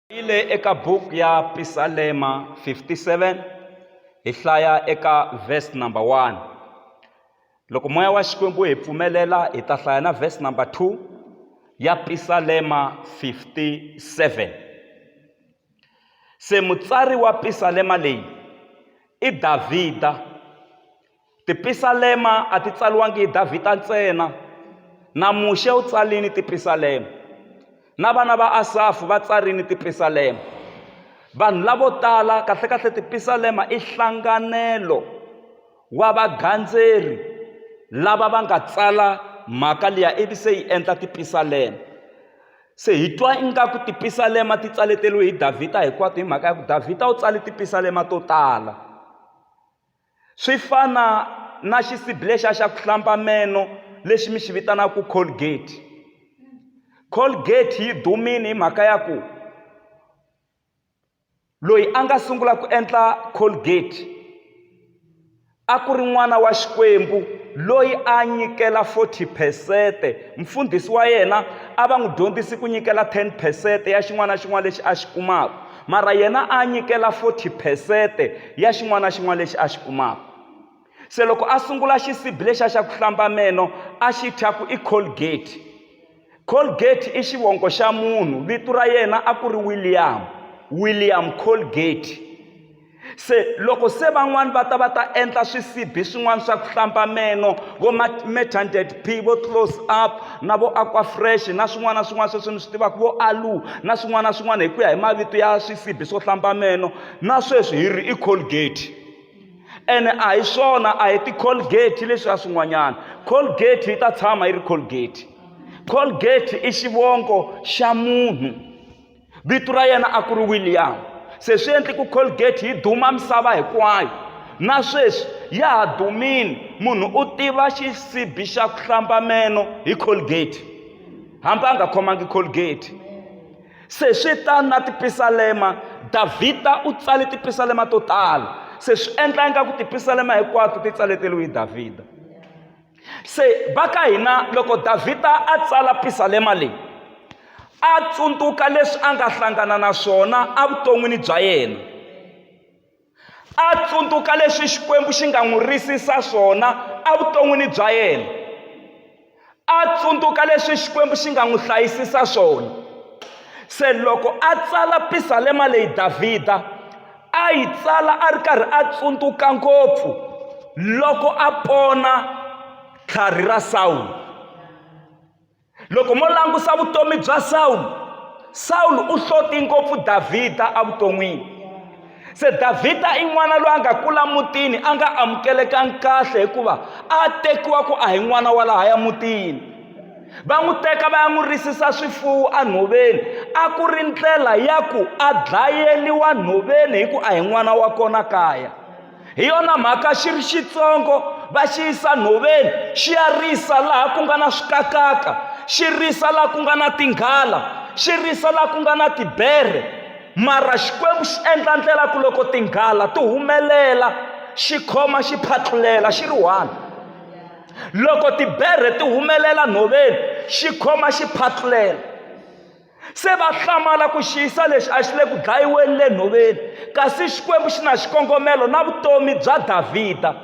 Ile eka book ya Pisalema 57 hi hlaya eka verse number 1 loko moya wa Xikwembu hi pfumelela hi ta hlaya na verse number 2 ya Pisalema 57 se mutsari wa Pisalema leyi i Davhida Tipisalema a ti tsaliwangi hi Davhida ntsena. Na Muxe u tsarile tipisalema. Na vana va Asafu va tsarile tipisalema. Vanhu lavo tala kahle-kahle tipisalema i hlanganelo wa vagandzeri lava va nga tsala mhaka liya ivi se yi endla tipisalema. Se hi twa ingaku tipisalema ti tsaleteriwe hi Davhida hinkwato hi mhaka ya ku Davhida u tsale tipisalema to tala. Swi fana na xisiblexa xa ku hlamba meno lexi mi xi vitanaka Colgate. Colgate yi dumile hi mhaka ya ku loyi a nga sungula ku endla Colgate a ku ri n'wana wa Xikwembu loyi a nyikela forty phesente mfundhisi wa yena a va n'wi dyondzisi ku nyikela ten phesente ya xin'wana na xin'wana lexi a xi kumaka. mara yena a nyikela 40 phesete ya xin'wana na xin'wana lexi a xi kumaka se loko a sungula xisibi lexi a xa ku hlamba meno a xi thya ku i colgate colgate i xivongo xa munhu vito ra yena a ku ri william william colgate se loko se van'wani va ta va ta endla swisibi swin'wana swa ku hlamba meno vo matanded p vo close up na vo aquafresh na swin'wana na swin'wana sweswi ni swi tivaka vo alu na swin'wana na swin'wana hi ku ya hi mavito ya swisibi swo hlamba meno na sweswi hi ri i colgate ene a hi swona a hi ti-colgate leswiya swin'wanyana colgate yi ta tshama yi ri colgate colgate i xivongo xa munhu vito ra yena a ku ri william se swi endli ku colgate yi duma misava hinkwayo na sweswi ya ha dumile munhu u tiva xisibi xa ku hlamba meno hi colgate hambi a nga khomangi colgate se swi ta na tipisalema davhida u tsale tipisalema to tala se swi endla ingaku tipisalema hinkwato ti tsaleteriwe hi davhida se va ka hina loko davhida a tsala pisalema leyi a tsundzuka leswi a nga hlangana na swona evuton'wini bya yena a tsundzuka leswi xikwembu xi nga n'wi risisa swona evuton'wini bya yena a tsundzuka leswi xikwembu xi nga n'wi hlayisisa swona se loko a tsala pisalema leyi davhida a yi tsala a ri karhi a tsundzuka ngopfu loko a pona tlhari ra sawulo loko mo langusa vutomi bya sawulo sawulo u hloti ngopfu davhida evuton'wini se davhida i n'wana loyi a nga kula mutini a nga amukelekangi kahle hikuva a tekiwa ku a hi n'wana wa lahaya mutini va n'wi teka va ya n'wi risisa swifuwo enhoveni a ku ri ndlela ya ku a dlayeliwa nhoveni hi ku a hi n'wana wa kona kaya hi yona mhaka xi ri xitsongo va xi yisa nhoveni xi ya risa laha ku nga na swikakaka xi risa laha ku nga na tinghala xi risa laha ku nga na tibere mara xikwembu xi endla ndlela ku loko tinghala ti humelela xi khoma xi phatlulela xi ri one loko tiberhe ti humelela nhoveni xi khoma xi phatlulela se va hlamala ku xiyisa lexi a xi le ku dlayiweni le nhoveni kasi xikwembu xi na xikongomelo na vutomi bya davhida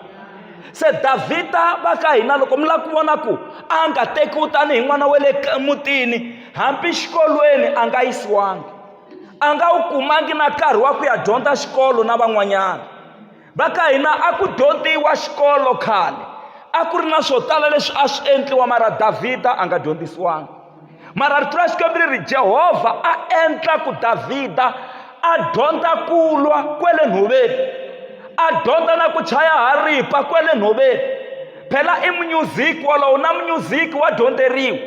se davhida va ka hina loko mi lava ku vona ku a nga tekiwi tanihi n'wana wa le mutini hambi xikolweni a nga yisiwangi a nga wu kumangi na nkarhi wa ku ya dyondza xikolo na van'wanyana va ka hina a ku dyondziwa xikolo khale a ku ri na swo tala leswi a swi endliwa mara davhida a nga dyondzisiwanga mara rito ra xikwembu ri ri jehovha a endla ku davhida a dyondza ku lwa kwele nhoveni a dyondza na ku chaya haripa kwele nhoveni phela i munyuziki wolowo na munyuziki wa dyondzeriwa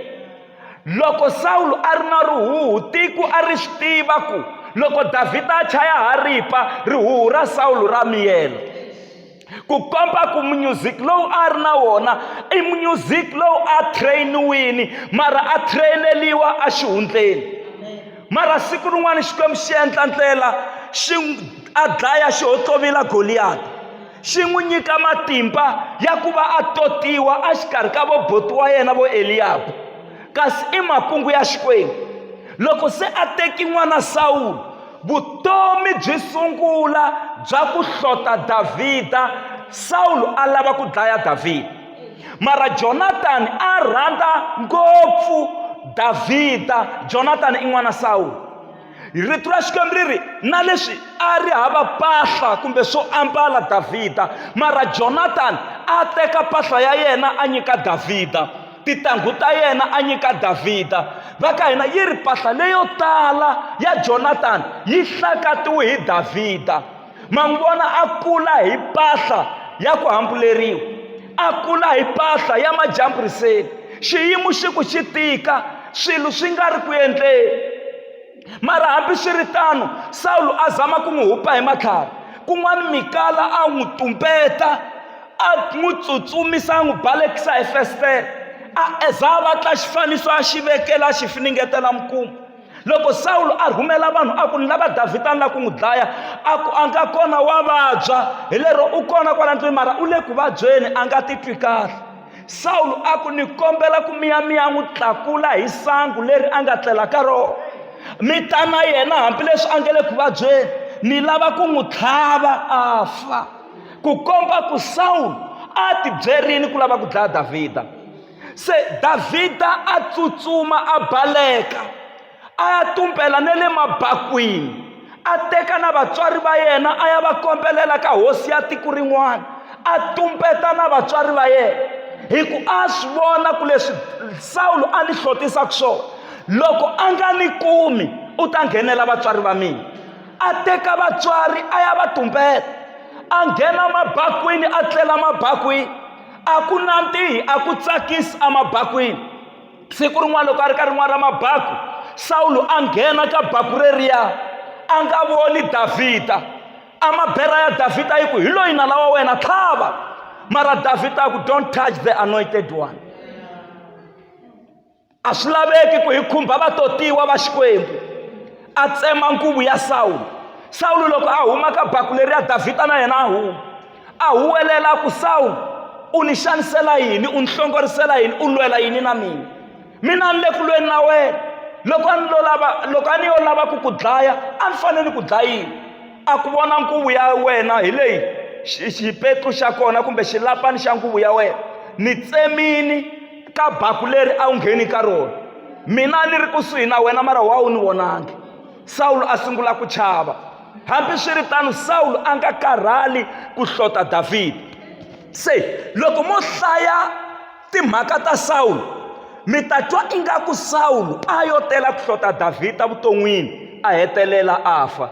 loko sawulo a ri na rihuhu tiko a ri swi tiva ku loko davhida a chaya haripa rihuhu ra sawulo ra miyela ku komba ku munyuziki lowu a ri na wona i munyuziki lowu a trainiwini mara a traineliwa exihundleni mara siku rin'wana xikwembu xi endla ndlela xi a dlaya xi hotlovila goliyati xi n'wi nyika matimba ya ku va a totiwa exikarhi ka voboti wa yena vo eliyabu kasi i makungu ya xikwembu loko se a teki n'wana sawulo vutomi byi sungula bya ku hlota davhida sawulo a lava ku dlaya davhida mara jonatani a rhandza ngopfu davhida jonatani i n'wana sawulo rito ra xikwembu ri ri na leswi a ri hava mpahla kumbe swo ambala davhida mara jonatani a teka mpahla ya yena a nyika davhida titanghu ta yena a nyika davhida va ka hina yi ri mpahla leyo tala ya jonatani yi hlakatiwe hi davhida ma n'wi vona a kula hi mpahla ya ku hambuleriwa a kula hi mpahla ya majamburiseni xiyimo xi ku xi tika swilo swi nga ri ku endleni mara hambi swi ri tano sawulo a zama ku n'wi hupa hi matlhari kun'wana mikala a n'wi tumbeta a n'wi tsutsumisa a n'wi balekisa hi festere a eza a vatla xifaniso a xi vekela a xi finingetela mukuma loko sawulo a rhumela vanhu a ku ni lava davhida ni la ku n'wi dlaya a ku a nga kona wa vabya hi lero u kona kwala ndlwini mara u le ku vabyeni a nga titwi kahle sawulo a ku ni kombela ku miyamiya n'wi tlakula hi sangu leri a nga tlela ka rona mi ta na yena hambileswi a nga le ku vabyeni ni lava ku n'wi tlhava a fa ku komba ku sawulo a tibyerini ku lava ku dlaya davhida se davhida a tsutsuma a baleka a ya tumbela ne le mabakwini a teka na vatswari va yena a ya va kombelela ka hosi ya tiko rin'wana a tumbeta na vatswari va yena hi ku a swi vona ku leswi sawulo a ni hlotisaka swona loko a nga ni kumi u ta nghenela vatswari va mina a teka vatswari a ya va tumbeta a nghena mabakwini a tlela mabakwini a ku nandzihi a ku tsakisi emabakwini siku rin'wana loko a ri ka rin'wana ra mabaku sawulo a nghena ka baku reriya a nga voni davhida amabera ya davhida yi ku hi loyi nala wa wena tlhava mara davhida a ku don't touch the anointed one a swi laveki ku hi khumba vatotiwa va xikwembu a tsema nkuvu ya sawulo sawulo loko a huma ka baku leri ya davhida na yena a huma a huwelela ku sawulo u ni xanisela yini u ni hlongorisela yini u lwela yini na mina mina ni le ku lweni na wena loko a ni lo lava loko a ni yo lava ku ku dlaya a ni fanele ni ku dlayini a ku vona nkuvu ya wena hi leyi xipetlu xa kona kumbe xilapani xa nkuvu ya wena ni tsemini ka baku leri a wu ngheni ka rona mina ni ri kusuhi na wena mara wa wu ni vonangi sawulo a sungula ku chava hambiswiritano sawulo a nga karhali ku hlota davhida se loko mo hlaya timhaka ta sawulo mi ta twa ingaku sawulo a yo tela ku hlota davhida vuton'wini a hetelela a fa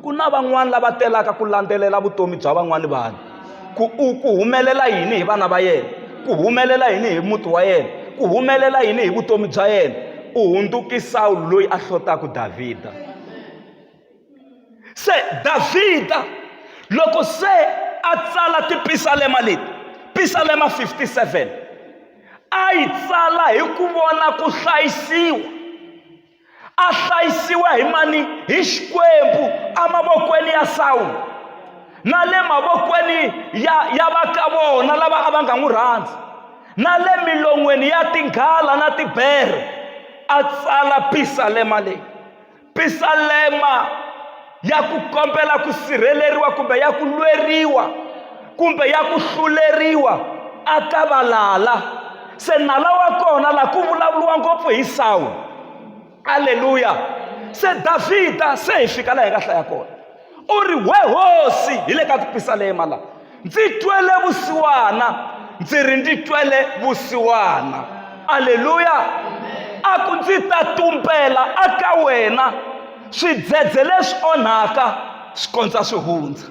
ku na van'wani lava telaka ku landzelela vutomi bya van'wani vanhu ku u ku humelela yini hi vana va yena ku humelela yini hi muti wa yena ku humelela yini hi vutomi bya yena u hundzuki sawulo loyi a hlotaka davhida se davhida loko se a tsala tipisalema leti pisalema 57 a yi tsala hi ku vona ku hlayisiwa a hlayisiwa hi mani hi xikwembu emavokweni ya sawulo na le mavokweni ya ya va ka vona lava a va nga n'wi rhandzi na le milon'weni ya tinghala na tibere a tsala pisalema leyi pisalema ya ku kombela ku sirheleriwa kumbe ya ku lweriwa kumbe ya ku hluleriwa a ka valala se nala wa kona laha ku vulavuriwa ngopfu hi sawulo aleluya se davhida se hi fika laha hi nga hlaya kona u ri we hosi hi le ka tipisalema laha ndzi twele vusiwana ndzi ri ndzi twele vusiwana aleluya a ku ndzi ta tumbela aka wena swidzedze leswi onhaka swi kondza swi hundza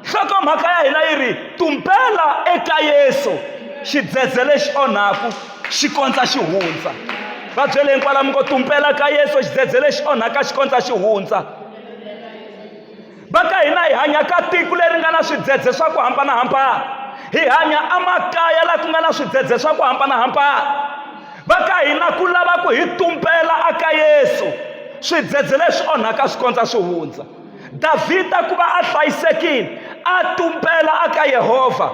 nhlokomhaka ya hina yi ri tumbela eka yesu xidzedze lexi onhaku xi kondza xi hundza va byele hinkwalamu ko tumbela ka yesu xidzedze lexi onhaka xi kondza xi hundza va ka hina hi hanya ka tiko leri nga na swidzedze swa ku hambanahambana hi hanya emakaya laha ku nga na swidzedze swa ku hambanahambana va ka hina ku lava ku hi tumbela aka yesu swidzedze leswi onhaka swi kondza swi hundza davhida ku va a hlayisekile a tumbela aka yehovha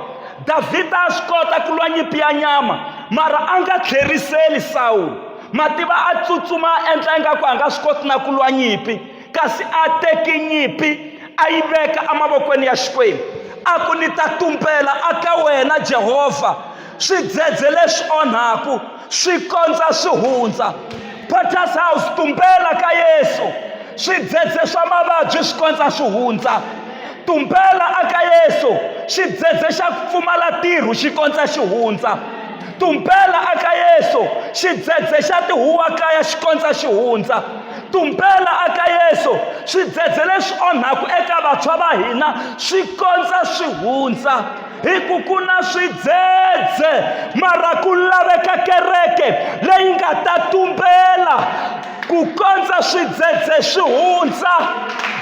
davhida a swi kota ku lwa nyimpi ya nyama mara a nga tlheriseli sawulo mativa a tsutsuma a endla ingaku a nga swi koti na ku lwa nyimpi kasi a teki nyimpi a yi veka emavokweni ya xikwembu a ku ni ta tumbela aka wena jehovha swidzedze leswi onhaku swi kondza swi hundza potters house tumbela ka yesu swidzedze swa mavabyi swi kondza swi hundza tumbela aka yesu xidzedze xa ku pfumala tirhu xi kondza xi hundza tumbela aka yesu xidzedze xa tihuwa kaya xi kondza xi hundza tumbela aka yesu swidzedze leswi onhaku eka vantshwa va hina swi kondza swi hundza hi ku ku na swidzedze mara ku laveka kereke leyi nga ta tumbela ku kondza swidzedze swi hundza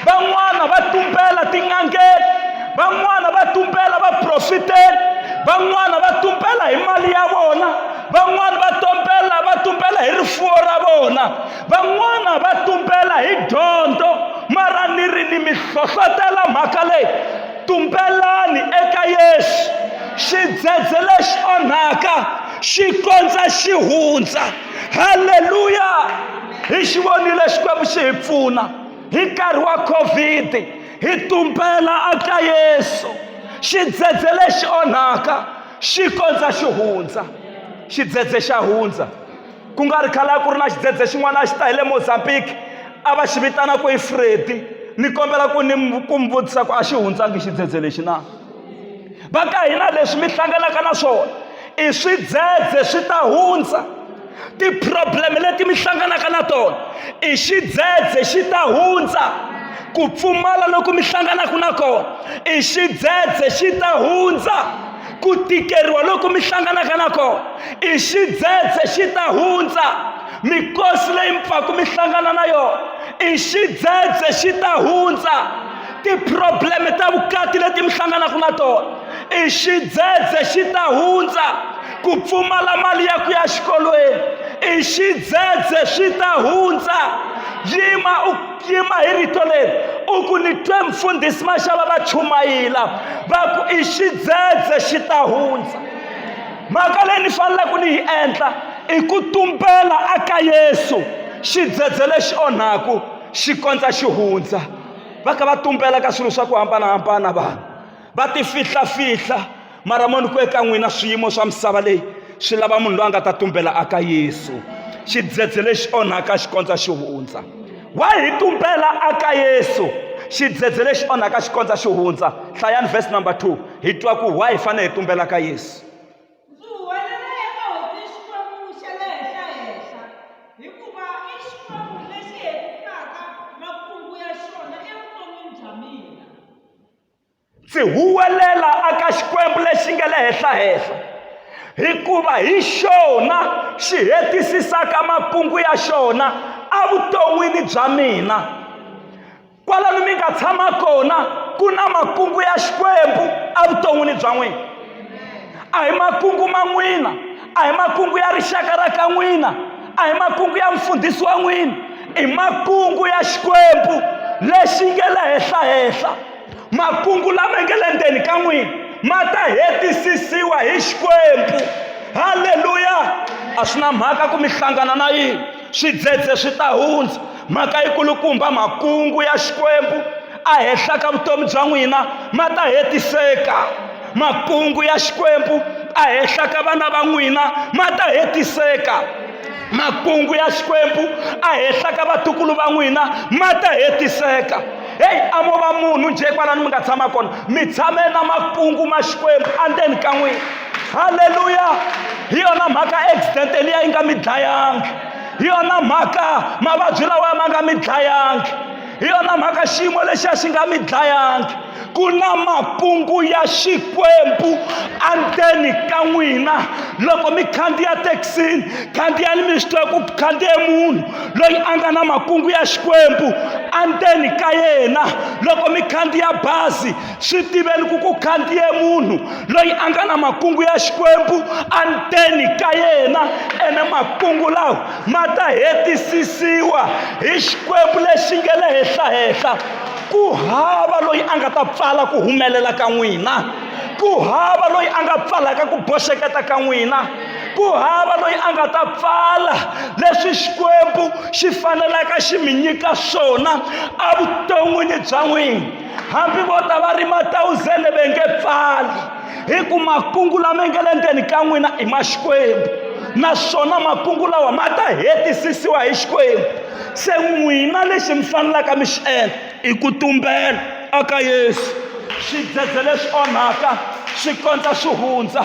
van'wana va tumbela tin'angeni van'wana va tumbela vaprofiteni van'wana va tumbela hi mali ya vona van'wana va tumbela va tumbela hi rifuwo ra vona Van'wana va tumbela hi dyondzo mara ni ri ni mi hlohlotela mhaka leyi tumbelani eka Yesu xidzedze lexi onhaka xi kondza xi hundza halleluya hi xi vonile xikwembu xi hi pfuna hi nkarhi wa covid hi tumbela aka yesu xidzedze lexi onhaka xi kondza xi hundza xidzedze xa hundza ku nga ri khala ku ri na xidzedze xin'wana a xi ta hi le mozambique a va xi vitana ku i fredi ni kombela ku ni ku mi vutisa ku a xi hundsangi xidzedze lexi na va ka hina leswi mi hlanganaka na swona i swidzedze swi ta hundza ti-problem leti mi hlanganaka na tona i xidzedze xi ta hundza ku pfumala loku mi hlanganaka na kona i xidzedze xi ta hundza ku tikeriwa loko mi hlanganaka na kona i xidzedze xi ta hundza mikosi leyi mpfaku mi hlangana na yona i xidzedze xi ta hundza tiprobleme ta vukati leti mi hlanganaka na tona i xidzedze xi ta hundza ku pfumala mali ya ku ya xikolweni i xidzedze swi ta hundza yima u yima hi rito leri u ku ni twe mfundhisi maxava va chumayila va ku i xidzedze xi ta hundza mhaka leyi ni faneleke ni yi endla i ku tumbela aka yesu xidzedze lexi onhaku xi kondza xi hundza va ka va tumbela ka swilo swa ku hambanahambana vanhu va ti fihlafihla mara moni ku eka n'wina swiyimo swa misava leyi swi lava munhu loyi a nga ta tumbela aka yesu xidzedze lexi onhaka xi kondza xi hundza wa hi tumbela aka yesu xidzedze lexi onhaka xi kondza xi hundza hlayani verse number 2 hi twa ku wa hi fanele hi tumbela ka yesu ndzi huwelela aka Xikwembu lexi nga le henhla-henhla, hikuva hi xona xi hetisisaka makungu ya xona evuton'wini bya mina. Kwalano mi nga tshama kona ku na makungu ya Xikwembu evuton'wini bya n'wina. A hi makungu ma n'wina, a hi makungu ya rixaka ra ka n'wina a hi makungu ya mfundhisi wa n'wina i makungu ya xikwembu lexi nge le henhla henhla makungu lama nge le ndzeni ka n'wina ma ta hetisisiwa hi xikwembu halleluya a swi na mhaka ku mi hlangana na yini swidzedze swi ta hundza mhaka yikulukumba makungu ya xikwembu a henhla ka vutomi bya n'wina ma ta hetiseka makungu ya xikwembu a henhla ka vana va n'wina ma ta hetiseka makungu ya xikwembu a henhla ka vatukulu va n'wina ma ta hetiseka heyi a mo va munhu njhe kwalani mi nga tshama kona mi tshame na makungu ma xikwembu andzeni ka n'wina halleluya hi yona mhaka accident eliya yi nga mi dlayangi hi yona mhaka mavabyi lawa ma nga mi dlayangi hi yona mhaka xiyimo lexiya xi nga mi dlayangi ku na makungu ya xikwembu andzeni ka n'wina loko mi khandziya thekisini khandziyani mi swi tiva ku khandziye munhu loyi a nga na makungu ya xikwembu andzeni ka yena loko mi khandziya bazi swi tiveni ku ku khandziye munhu loyi a nga na makungu ya xikwembu anteni ka yena ene makungu lawa ma ta hetisisiwa hi xikwembu lexi nge le henhlahenhla ku hava loyi a nga ta pfala ku humelela ka n'wina ku hava loyi a nga pfalaka ku boxeketa ka n'wina ku hava loyi a nga ta pfala leswi xikwembu xi fanelaka xi mi nyika swona evuton'wini bya n'wina hambi vo ta va ri matawuzele ve nge pfali hi ku makungu lama nge le ndzeni ka n'wina i ma xikwembu naswona makungu lawa ma ta hetisisiwa hi xikwembu se n'wina lexi mi fanelaka mi xi endla i ku tumbela aka yesu swidzedze leswi onhaka swi kondza swi hundza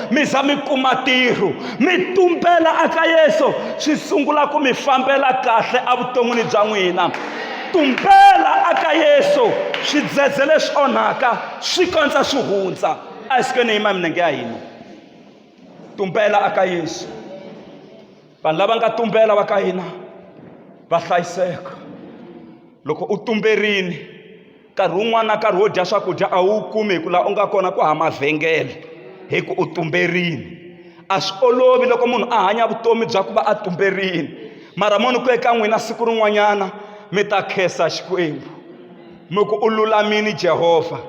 mi za mi kuma tirho mi tumbela aka yesu swi sungula ku mi fambela kahle evuton'wini bya n'wina tumbela aka yesu swidzedze leswi onhaka swi kondza swi hundza a hi sikweni yima minenge ya hina tumbela aka yesu vanhu lava nga tumbela va ka hina va hlayiseka loko u tumberini nkarhi wun'wana na nkarhi wo dya swakudya a wu kumi hi ku laha u nga kona ku hava mavhengele hi ku u tumberini a swi olovi loko munhu a hanya vutomi bya ku va a tumberini mara mo ni ku eka n'wina siku rin'wanyana mi ta khensa xikwembu mi ku u lulamini jehovha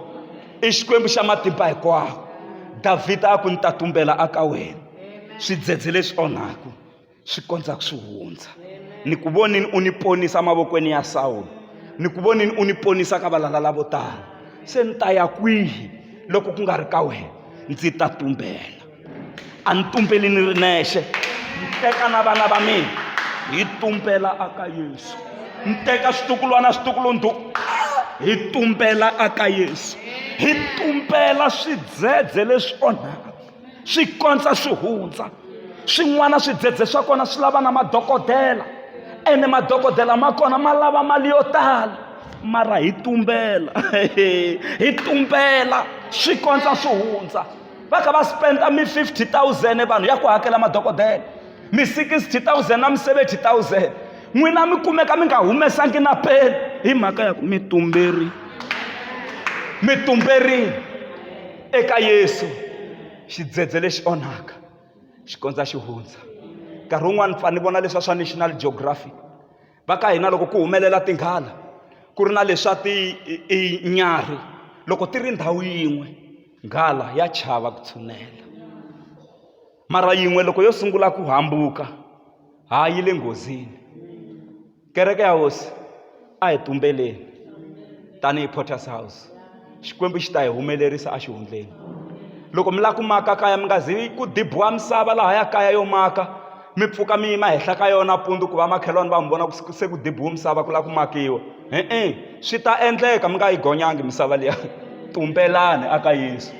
i xikwembu xa matimba hinkwawo davhida a ku ni ta tumbela aka wena swidzedze leswi onhaku swi kondza ku swi hundza ni ku vonini u ni ponisa mavokweni ya sawulo ni ku vonini u ni ponisa ka valala lavo tala se ni ta ya kwihi loko ku nga ri ka wena ndzi ta tumbela a ni tumbeli ni ri nexe ni teka na vana va mina hi tumbela aka yesu ni teka switukulwana switukulundhu hi tumbela aka yesu hi tumbela swidzedze leswi onhaka swi kondza swi hundza swin'wana swidzedze swa kona swi lava na madokodela ene madokodela ma kona ma lava mali yo tala mara hi tumbela hi tumbela swi kondza swi hundza va kha va spenda mi 50 000 vanhu ya ku hakela madokodela mi 60 000 na mi 70 000 n'wina mi kumeka mi nga humesangi na peni hi mhaka ya ku mi tumberi mi tumberile eka yesu xidzedze lexi onhaka xi kondza xi hundza nkarhi wun'wani pfa ni vona leswa swa national geography va ka hina loko ku humelela tinghala ku ri na leswa tinyarhi loko ti ri ndhawu yin'we nghala ya chava ku tshunela mara yin'we loko yo sungula ku hambuka ha yi le nghozini kereke ya hosi a hi tumbeleni tanihi porters house xikwembu xi ta hi humelerisa exihundleni loko mi lava ku maka kaya mi nga zi ku dibiwa misava laha ya kaya yo maka mi pfuka mi yima henhla ka yona pundu ku va makhelwani va mi vona ku se ku dibiwe misava ku lava ku makiwa e-e swi ta endleka mi nga yi gonyangi misava liya tumbelani aka yesu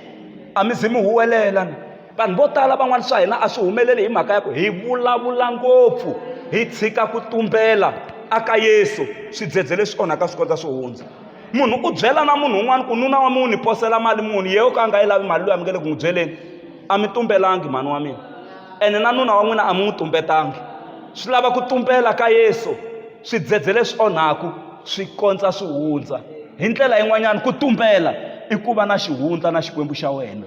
a mi zi mi huwelela na vanhu vo tala van'wana swa hina a swi humeleli hi mhaka ya ku hi vulavula ngopfu hi tshika ku tumbela aka yesu swidzedze leswi onhaka swi kondza swi hundza munhu u byela na munhu un'wana ku nuna wa munhu ni posela mali munhu yeyo ka a nga yi lavi mali loyi a mi nge le ku n'wi byeleni a mi tumbelangi mhani wa mina ene na nuna wa n'wina a mi n'wi tumbetangi swi lava ku tumbela ka yesu swidzedze leswi onhaku swi kondza swi hundza hi ndlela yin'wanyana ku tumbela i ku va na xihundla na xikwembu xa wena